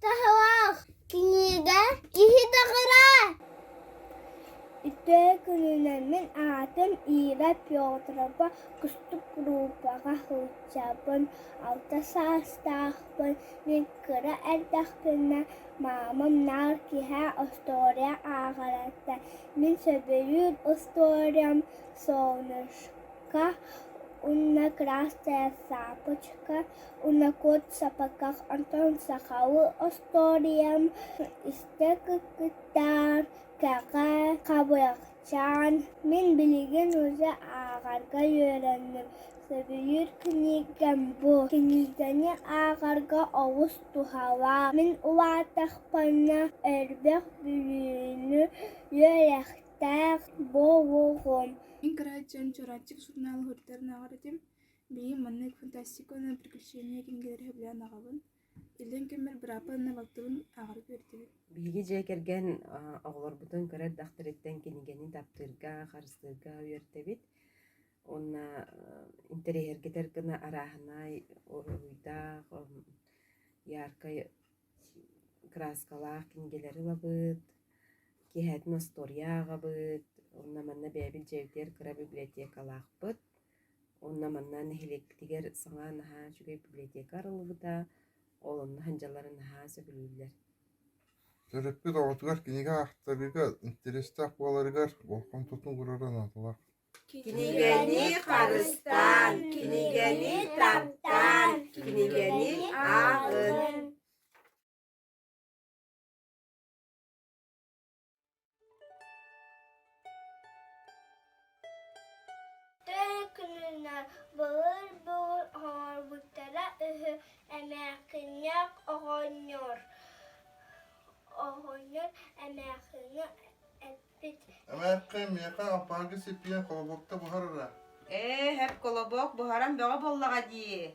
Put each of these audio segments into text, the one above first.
Таһылаах кинигэ киһи даҕара Ити күнүнэн мин аатым Ира Петрова кустук группаҕа сылдьабын. Алта саастаахпын. Мин кыра эрдэхпинэ маамам наар киэһэ остуоруйа ааҕарыттан мин сөбүлүүр остуоруйам солнышко уонна красная цепочка Унакуот сапаках онтон сахалыы остуоруйам истэ кыттыктаан, кэҕэ, хабыахчаан, мин билигин уже ааҕарга үөрэнним. Сөбүлүүр кинигэм бу. Кинигэни ааҕарга олус туһалаах. Мин улаатахпына өрбөх бүлүүнү үөрэхтээх буолуум. Мин кырааччым, чурапчык сурунаал уһуйаантарын ааҕар этим. Бийим маннык фантастика уонна приключения кинигэлэри сөбүлээн аҕабын. Иллэҥ кэммэр быраапа уонна балтыбын ааҕары үөрдүбүт. Биһиги дьиэ кэргэн оҕолорбутун кыра эрдэхтэриттэн кинигэни таптыырга, харыстыырга үөрдэбит. Уонна интэриэһиргэтэр гына арааһынай, уруһуйдаах, яркай краскалаах кинигэлэри ылабыт, киэһэтин остуоруйа ааҕабыт. Уонна манна бэйэбит дьиэбитигэр кыра библиотекалаахпыт. Онно манна нэһилиэкпитигэр саҥа наһаа үчүгэй библиотека арыллыбыта, ол онно сандьалары наһаа сөбүлүүллэр. Төрөппүт оҕотугар кинигэ аахтарыыга интэриэстээх буоларыгар болҕомтотун уурара наадалаах. Кинигэни харыстаан, кинигэни таптаан, кинигэни ааҕын. Күнүнэн былыр былыр оҥорбуттара үһү эмээхсинньэх оҕонньор оҕонньор эмээхсиҥҥэ эппит эмээхсин миэхэ ампаарга сиппиэн колобокта буһарара ээ һэп колобок буһаран бөҕө буоллаҕа дии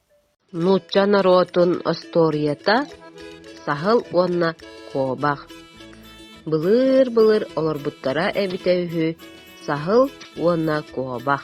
Нуучча норуотун остуоруйата – саһыл уонна куобах. Былыыр-былыр олорбуттара эбитэ үһү саһыл уонна куобах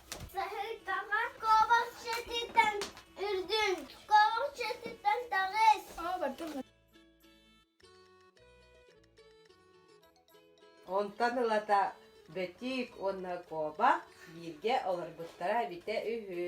Саһыйтаҕа куобахчытыттан үрдүн, куобахчытыттан таҕыс. Онтон ылата бэтик уонна куобах бииргэ олорбуттара эбитэ үһү.